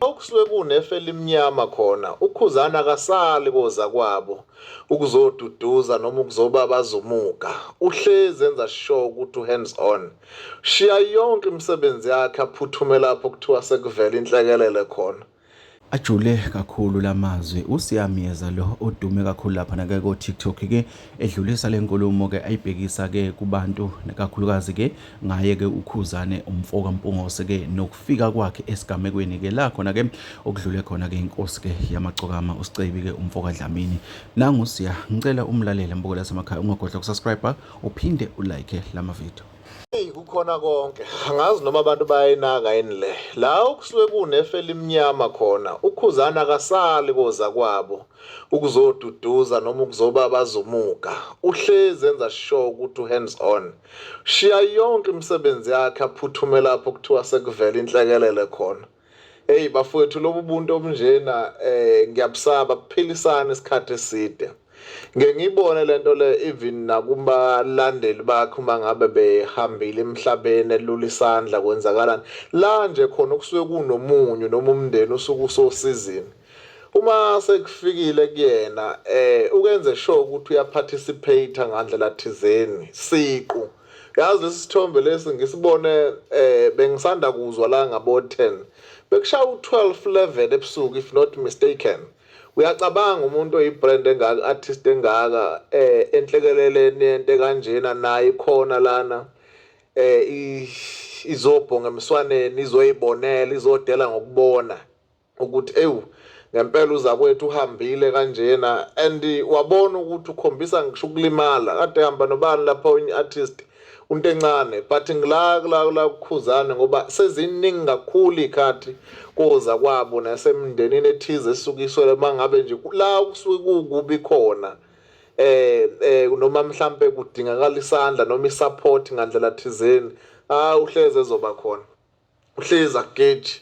okusuke kunefa elimnyama khona ukhuzana akasali koza kwabo ukuzoduduza noma ukuzoba bazumuka uhlezi enza sure ukuthi uhands on shiya yonke imisebenzi yakhe aphuthume lapho kuthiwa sekuvela inhlekelele khona Ajule kakhulu lamazwi uSiyamyeza lo odume kakhulu lapha nake ko TikTok ke edlulisa lenkulumo ke ayibhekisa ke kubantu nekakhulukazi ke ngaye ke uKhuzane umfoka Mpungose ke nokufika kwakhe esigamekweni ke la khona ke okudlule khona ke inkosi ke yamacokama uSicebi ke umfoka Dlamini nangu siya ngicela umlalele mbukela semakhaya ungagodla ukusubscribe uphinde ulike lama video Eyi kukhona konke angazi noma abantu bayayinaka yini le la okusuke kunefa elimnyama khona ukhuzana akasali koza kwabo ukuzoduduza noma ukuzoba bazumuka uhlezi enza sure ukuthi uhands on shiya yonke imisebenzi yakhe aphuthume lapho kuthiwa sekuvela inhlekelele khona Hey bafowethu lobu buntu obunjena eh ngiyabusaba kuphilisana isikhathi eside. Ngeke ngiyibone lento le even nakubalandeli bakhe uma ngabe behambile emhlabeni elula isandla kwenzakalani. La nje khona kusuke kunomunyu noma umndeni usuke usosizini. Uma sekufikile kuyena eh ukenze sure ukuthi uyaparticipate ngandlela thizeni siqu. Yazi lesi sithombe lesi ngisibone eh bengisanda kuzwa la ngabo 10. Bekushaya u12 11 ebusuku if not mistaken. Uyacabanga umuntu oyibrand engaka artist engaka eh enhlekeleleni yente kanjena naye khona lana eh izobhonga emswaneni izoyibonela izodela ngokubona. ukuthi ewu ngempela uzakwethu uhambile kanjena and wabona ukuthi ukhombisa ngisho ukulimala kade ehamba nobani lapha onye artist unto encane but ngila kula kula kukhuzane ngoba seziningi kakhulu ikhathi koza kwabo nasemndenini ethize esukiswe mangabe nje la kusuke kukubi khona eh eh noma mhlambe kudingakala isandla noma isupport ngandlela thizeni ah uhleze ezoba khona uhlezi ageji